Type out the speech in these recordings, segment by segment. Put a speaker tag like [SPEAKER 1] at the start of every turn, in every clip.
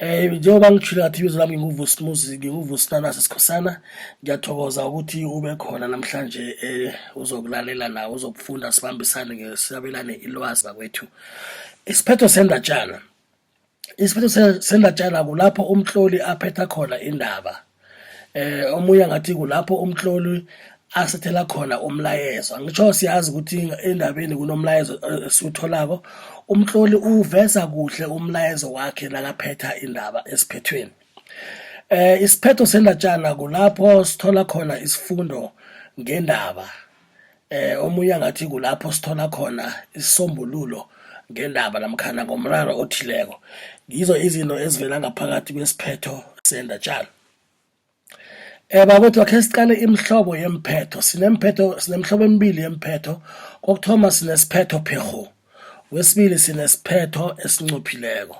[SPEAKER 1] Eh njengoba ngijhilo ngathi ibizo lami nginguVusi Muzi nginguVusi Nanasi Sikhosana ngiyathokoza ukuthi ube khona namhlanje eh uzokulalela la uzokufunda sibambisane ngesabelane ilwazi bakwethu isiphetho sendatjana isiphetho sendatjana kulapho umtloli aphetha khona indaba eh omunye ngathi kulapho umhloli asethela khona umlayezo ngitsho siyazi ukuthi endabeni kunomlayezo eh, esiwutholako umhloli uveza kuhle umlayezo wakhe nakaphetha indaba esiphethweni eh isiphetho sendatshana kulapho sithola khona isifundo ngendaba Eh omunye angathi kulapho sithola khona isisombululo ngendaba namkhana ngomraro othileko. Ngizo izinto ezivela ngaphakathi kwesiphetho sendatjana. Eh bakwethu akhe siqale imihlobo yeemphetho. Sinemphetho sinemihlobo emibili yeemphetho. Kokuthoma sinesiphetho pherhu. Wesibili sinesiphetho esincophileko.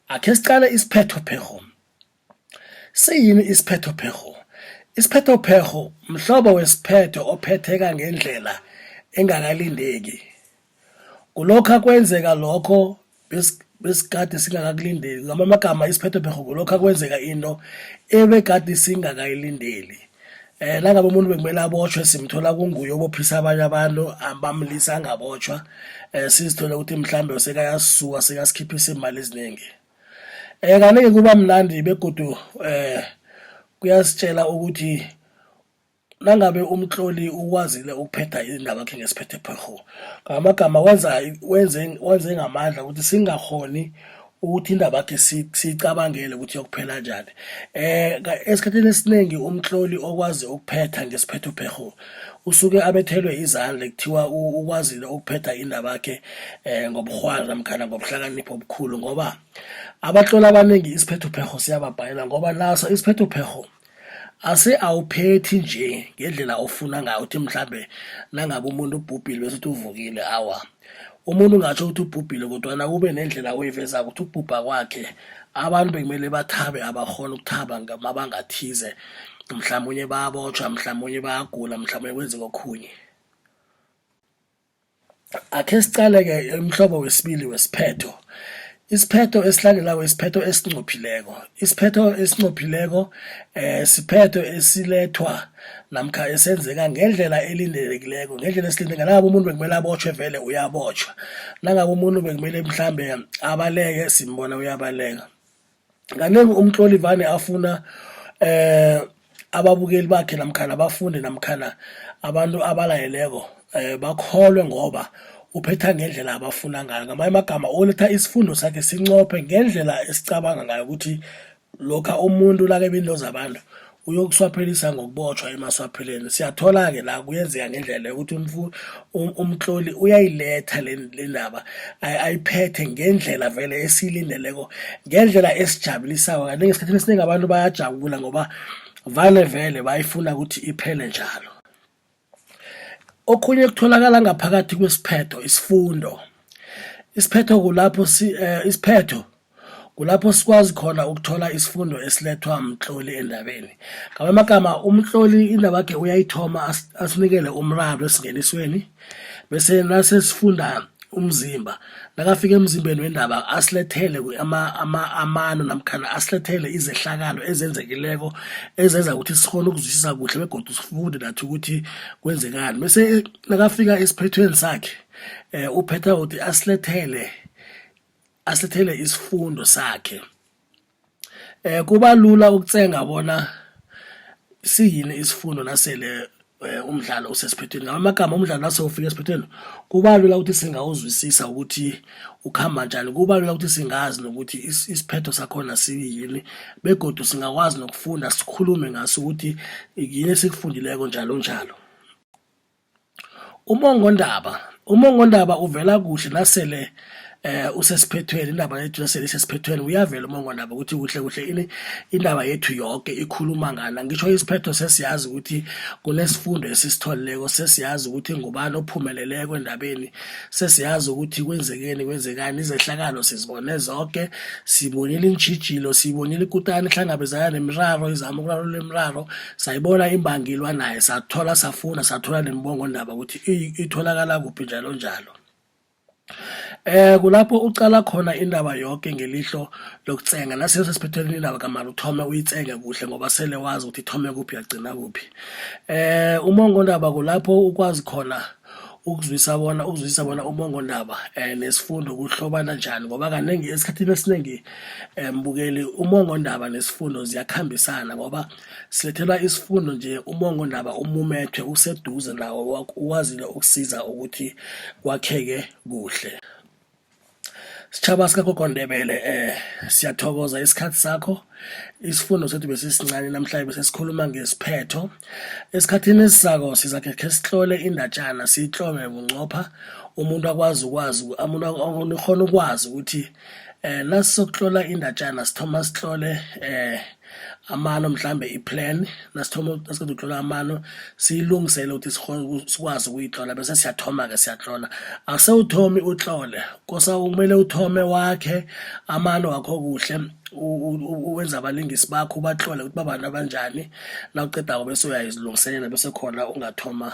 [SPEAKER 1] Akhe siqale isiphetho pherhu. Siyini isiphethopherho? Isiphethopherho mhlobo wesiphetho ophetheka ngendlela engakalindeki. Kulokha kwenzeka lokho besikade singakakulindeli. Ngamanye amagama isiphethopherho kulokha kwenzeka into ebegade singakayilindeli. Eh nangabe umuntu bekumele abotjhwe simthola kunguye obophisa abanye abantu bamlisa angabotjhwa. Eh sizithole ukuthi mhlambe sekayasisuka sekasikhiphisa iimali ezinengi. Eh kanike kuba mnandi begodu eh kuyasitshela ukuthi nangabe umtloli ukwazile ukuphetha indaba yakhe ngesiphethe pharho ngamagama wenza wenze wenze ngamandla ukuthi singahoni ukuthi indaba yakhe siyicabangele ukuthi yokuphela njani eh esikhathini esiningi umtloli okwazi ukuphetha ngesiphetho pherho usuke abethelwe izandla kuthiwa ukwazile ukuphetha indabakhe um ngoburhwari namkhana ngobuhlakanipho obukhulu ngoba abatloli abaningi isiphethophekgho siyababhalela ngoba naso isiphethophekgho ase awuphethi nje ngendlela ofuna ngayo uthi mhlambe nangabe umuntu ubhubhile bese uthi uvukile awa umuntu ungatsho ukuthi ubhubhile kodwana kube nendlela oyiveza ukuthi ukubhubha kwakhe abantu bekumele bathabe abakhona ukuthaba mabangathize mhlawumunye bayabotshwa mhlawumunye bayagula mhlawumunye kwenziwa okhunye akhe siqale-ke umhlobo wesibili wesiphetho Isiphetho esilandelako isiphetho esinqophileko. Isiphetho esinqophileko eh siphetho esilethwa namkha esenzeka ngendlela elindelekileko ngendlela esilinde ngalabo umuntu bekumele abotshwe vele uyabotshwa nangabe umuntu bekumele mhlambe abaleke simbona uyabaleka kanengi umtloli vane afuna eh ababukeli bakhe namkhana abafundi namkhana abantu abalayeleko eh bakholwe ngoba uphetha ngendlela abafuna ngayo ngamanye amagama oletha isifundo sakhe sincophe ngendlela esicabanga ngayo ukuthi lokha umuntu lake binto zabantu uyokuswaphelisa ngokubotshwa emaswapheleni siyathola-ke la kuyenzeka ngendlela yokuthi um, umtloli uyayiletha le ndaba ayiphethe ngendlela vele esiyilindeleko ngendlela esijabulisako kanti ngesikhathini esiningi abantu bayajabula ngoba vale vele bayifuna ukuthi iphele njalo Okhunye kutholakala ngaphakathi kwesiphetho isifundo. Isiphetho kulapho si eh, isiphetho kulapho sikwazi khona ukuthola isifundo esilethwa mtloli endabeni. Ngamanye amagama umtloli indabakhe uyayithoma asinikele umraro esingenisweni bese nasesifunda umzimba nakafika emzimbeni wendaba asilethele amano namkhana asilethele izehlakalo ezenzekileko ezenza ukuthi sikhona ukuzwisisa kuhle begodu sifunde nathi ukuthi kwenzekani bese nakafika esiphethweni sakhe um uphetha ukuthi asilethele asilethele isifundo sakhe Eh kuba lula ukutsenga bona siyini isifundo nasele eh, umdlalo usesiphethweni ngamanye amagama umdlalo nasewufika esiphethweni kuba lula ukuthi singawuzwisisa ukuthi ukhamba njani kuba lula ukuthi singazi nokuthi isiphetho sakhona siyini begodu singakwazi nokufunda sikhulume ngaso ukuthi yini esikufundileko njalo njalo Umongondaba umongondaba uvela kuhle nasele eh usesiphethweni indaba yethu nasele isesiphethweni uyavela umongondaba ukuthi kuhle kuhle ini indaba yethu yonke ikhuluma ngana ngisho isiphetho sesiyazi ukuthi kunesifundo esisitholileko sesiyazi ukuthi ngubani ophumeleleko endabeni sesiyazi ukuthi kwenzekeni kwenzekani izehlakalo sizibone zonke sibonile iintjhijilo sibonile ikutani ihlangabezana nemiraro izama ukurarulula imiraro sayibona imbangi ilwa naye sathola safuna sathola nembongo ndaba ukuthi itholakala kuphi njalo njalo eh kulapho ucala khona indaba yonke ngelihlo lokutsenga naseyo sesiphetheleni indaba kamali uthome uyitsenge kuhle ngoba sele wazi ukuthi ithome kuphi yagcina kuphi eh umongo ndaba kulapho ukwazi khona ukuzwisa bona ukuzwisa bona umongondaba um eh, nesifundo kuhlobana njani ngoba kaningi esikhathini esiningi um eh, bukeli umongondaba nesifundo ziyakuhambisana ngoba Silethela isifundo nje umongondaba umumethwe useduze nawo ukwazile ukusiza ukuthi kwakheke kuhle. Sitshaba sikagogo Ndebele eh siyathokoza isikhathi sakho isifundo sethu besisincane namhlanje besesikhuluma ngesiphetho esikhathini esisako sizakhe khe sihlole indatshana siyihlome bunqopha umuntu akwazi ukwazi umuntu akhona ukwazi ukuthi eh nasizokuhlola indatshana sithoma sihlole eh amano mhlambe i-plan nasithoma nasiqeda ukutlola amano siyilungisele ukuthi sikwazi ukuyitlola bese siyathoma-ke siyatlola asewuthomi utlole kosa kumele uthome wakhe amano wakho kuhle wenza abalingisi bakho ubahlole ukuthi babantu abanjani nawuqedako bese uyayizilungiselela bese khona ungathoma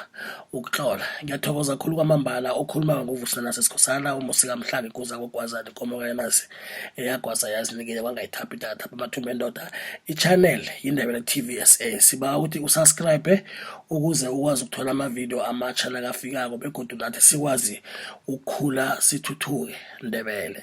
[SPEAKER 1] ukuhlola ngiyathokoza khulu kwamambala okhuluma ngovuselana sesikhosana umusikamhlanga ikuza kokwazani komokayenasi eyagwasa yazinikele kwangayithaphi idatha bamathumba endoda i-channel yindebele tv sa siba ukuthi usubscribe ukuze ukwazi ukuthola amavidiyo amatsha nakafikako begodu nathi sikwazi ukukhula sithuthuke ndebele